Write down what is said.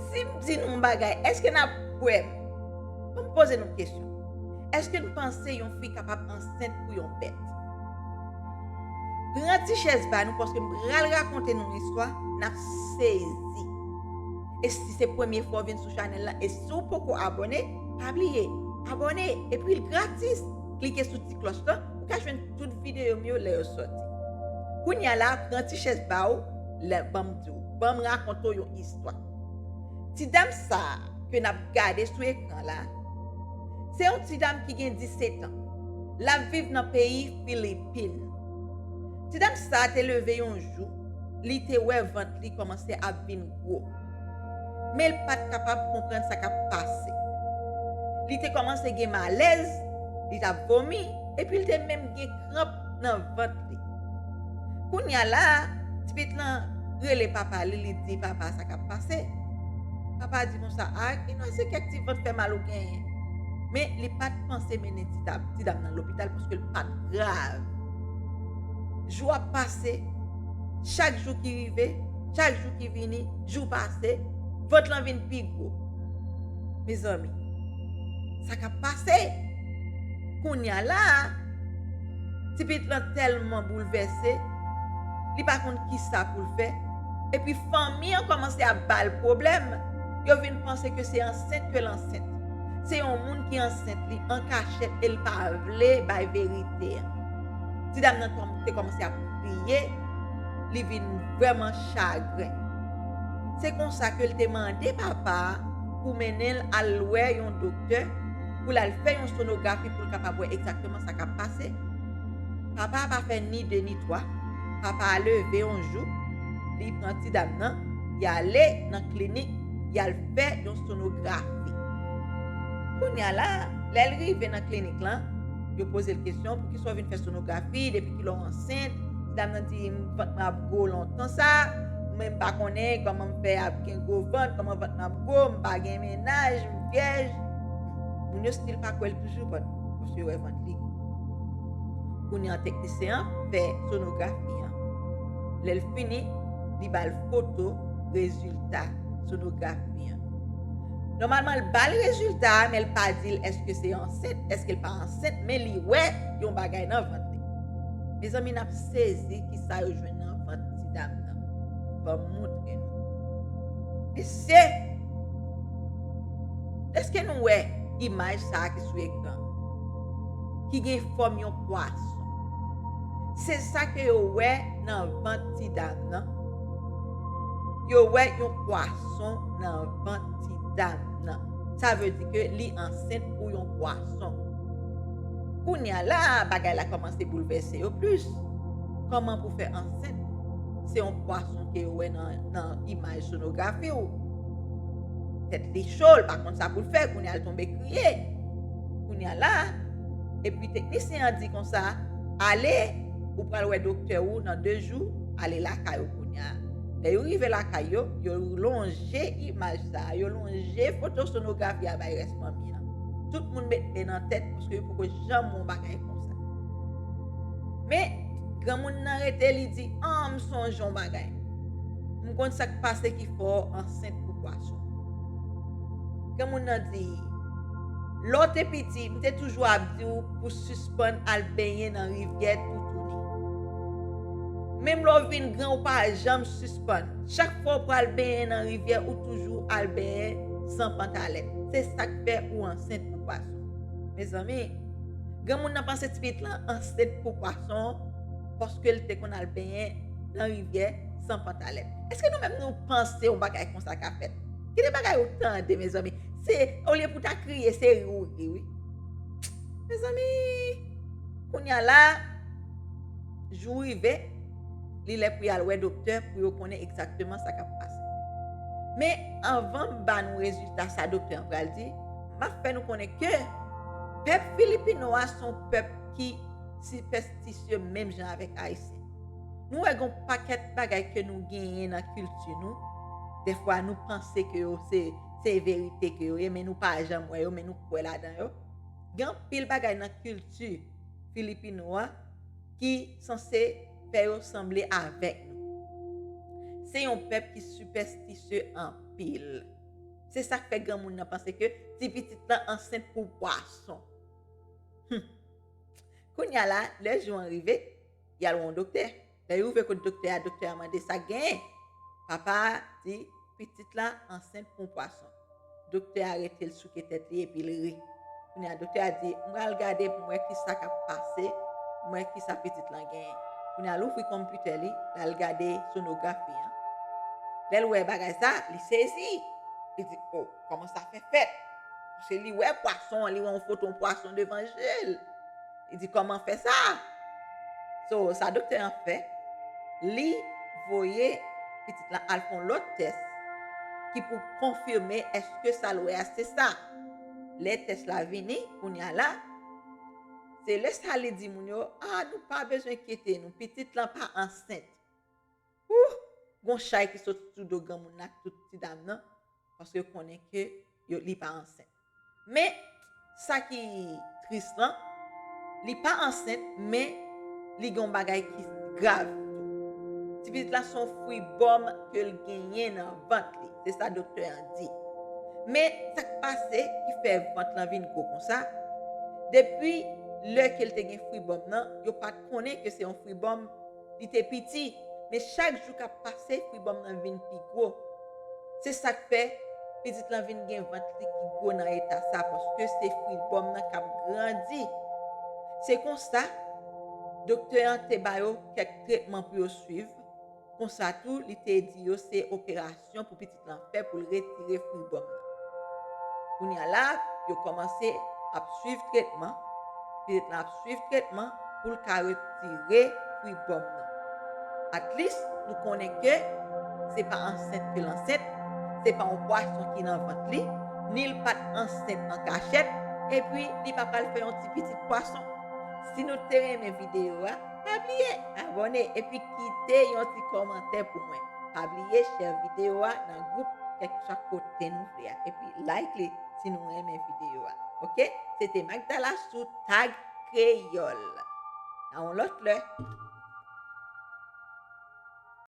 Si m di nou yon bagay, èske n ap kwè m? An n poze nou kesyon. Èske n panse yon fi kapab ansent pou yon bèt? Pran ti chèz ba nou paske m pral rakonte nou yon istwa, n ap sezi. E si se premye fwa w vin sou chanèl la e si w poko abòne, pa bliye abòne epi l gratis. Klike sou ti klòch lan pou w ka jwenn tout videyo m yo lè yo sòti. Kounya la, pran ti chèz ba w la ban m di w, ban m rakonte w yon istwa. Ti dam sa a ke n ap gade sou ekran la, se yon ti dam ki gen 17 an. L ap viv nan peyi Filipin. Ti dam sa a te leve yon jou, li te wè vant li kòmanse ap vin gwo. men l pa t kapab konprann sa k ap pase. Li te kòmanse gen malèz, li t ap vomi, epi l te menm gen kranp nan vant li. Kounye a la a, tipit lan rele papa li, li di papa sa k ap pase. Papa a di konsa, A, ki non se kèk ti vant fè mal ou genyen? Men, li pa t panse mennen ti dam nan lopital paske l pa t grav. Jou ap pase, chak jou ki rive, chak jou ki vini jou pase vant lan vin pi gwo mezanmi sa kap pase kounya la ti pitit lan tèlman boulvèse li pa konn kisa poul fè epi fanmi an kòmanse ap bal pwoblèm yo vin panse ke se ansent kel ansent se yon moun ki ansent li an kachèt el pa vle bay verite a ti dam nan kòmanse ap kriye. li vin vrèman chagren. Se konsa ke l te mande papa a pou mennen l al wè yon doktè pou l al fè yon sonografi pou l kapab wè egzakteman sa k ap pase. Papa a pa fè ni de ni twa, papa a leve yon jou, li pran ti dam nan, y ale nan klinik, y al fè yon sonografi. Kounye a la, lè l rive nan klinik lan, yo poze l kesyon, Poukisa w vin fè sonografi depi epi lè w ansent, ti dam nan di vant mwen ap gwo lontan sa, men m pa konnen kòman m fè ap gen gwo vant, kòman vant mwen ap gwo, m pa gen mennaj, m vyèj. Moun yo stil pa kwè l toujou bat paske yo wè vant li. Kounye an teknisyen an fè sonografi an. Lè l fini, li ba l foto rezilta sonografi an. Nòmalman l bal rezilta a men l pa di l èske se ansent èske l pa ansent men li wè yon bagay nan vant li. Mezanmi nap sezi kisa yo jwenn nan vant ti dam nan banm moutre nou. Mesye! Èske nou wè imaj sa ki sou ekran an? Ki gen fòm yon pwason. Se sa ke yo wè nan vant ti dam nan. Yo wè yon pwason nan vant ti dam nan. Sa vle di ke li ansent pou yon pwason. Kounya la a bagay la kòmanse boulvèse yo plis. Kòman pou fè ansent? Se yon pwason ke yo wè nan imaj sonografi ou. Tèt li cho, li pa konn sa pou l fè, kounya li tonbe kriye. Kounya la a, epi teknisyen an di konsa, ale, ou pral wè doktè ou nan 2 jou, ale lakay ou. Kounya, lè yo rive lakay yo, yo lonje imaj sa a, yo lonje foto sonografi a bay rès fanmi an. Tout moun met men nan tèt paske yo poko janm wè yon bagay konsa. Men, granmoun nan rete li di, An, m sonje yon bagay. M konn sa k pase ki fè w ansent pou pwason. Granmoun nan di, Lè w te piti, m te toujou ap di w pou w sispann al benyen nan rivyè toutouni. Menm lè w vin gran ou pa janm sispann. Chak fwa w pral benyen nan rivyè ou toujou al benyen san pantalèt. Se sa k fè ou ansent pou pwason. Mezanmi! Granmoun nan panse ti pitit lan ansent pou pwason paske l te konn al benyen nan rivyè san pantalèt. Èske nou menm nou panse yon bagay konsa ka fèt? Ki de bagay ou tande mezanmi! Se olye pou w ta kriye se ri ou ri wi. Mezanmi! Kounya la! Jou rive, li lè pou y al wè doktè pou yo konnen egzakteman sa k ap pase. Men, anvan m ba nou rezilta sa doktè an pral di, m ap fè nou konnen ke pèp Filipino a se yon pèp ki sipèstisye menm jan avèk Ayisyen. Nou wè gen yon pakèt bagay ke nou genyen nan kilti nou, dèfwa nou panse ke yo se verite ke yo ye men nou pa janm wè yo men nou kwè ladan yo. Gen anpil bagay nan kilti Filipino a. ki sanse fè yo sanble avèk nou. Se yon pèp ki sipèstisye anpil. Se sa k fè granmoun nan panse ke ti pitit lan ansent pou pwason. Hum! Kounye a la, lè jou an rive, y al wè yon doktè. Lè yo rive kot doktè a, doktè a mande sa k genyen. Papa a di, Pitit la ansent pou yon pwason. Doktè a rete l souke tèt li epi l ri. Kounye a doktè a di, M pral gade pou m wè kisa k ap pase, pou m wè kisa pitit lan genyen. Kounye a l ouvri konpitè li, l al gade sonografi an. Lè l wè bagay sa, li sezi. Li di, O, kòman sa fè fèt? Paske li wè pwason an, li wè yon foton pwason devan je l. Li di kòman fè sa? So sa doktè an fè, li voye pitit lan al fè yon lòt tès ki pou konfime eske sa l wè a se sa. Lè tès la vini, kounye a la, se lè sa li di moun yo, a nou pa bezwen enkyete nou, pitit lan pa ansent. Ooh! Gon chay ki sot sou do granmoun nan ak tout ti dam nan paske yo konnen ke yo li pa ansent. Men, sa ki tris lan, li pa ansent men li gen yon bagay ki grav tou. Ti pitit la se yon fwi bòm ke l genyen nan vant li, se sa doktè an di. Men, sa k pase ki fè vant lan vin gwo konsa, depi lè ke l te gen fwi bòm lan, yo pa t konnen ke se yon fwi bòm, Li te piti, men chak jou k ap pase fribòm nan vin pi gwo. Se sa k fè, pitit lan vin gen vant li ki gwo nan eta sa paske se fribòm nan k ap grandi. Se konsa, doktè an te ba yo kèk tretman pou yo suiv, konsa tou li te di yo se operasyon. Aksyon pou pitit lan fè pou l retire fwi gòm nan. Kounye a la, yo kòmanse ap swiv tretman, pitit lan ap swiv tretman pou l ka retire fwi gòm nan. Atlis, nou konnen ke se pa ansent ke l ansent, se pa yon pwason ki nan vant li, ni l pa t ansent an kachèt, epi li pa pral fè yon ti pitit pwason. Si nou te renmen videyo a. Pa bliye abòne epi kite yon ti kòmantè pou mwen. Pa bliye share video a nan group kèlkeswa kote nou vle a epi like li si nou renmen video a ok. Se te Magdala sou Tag Kreyol. A yon lòt lè.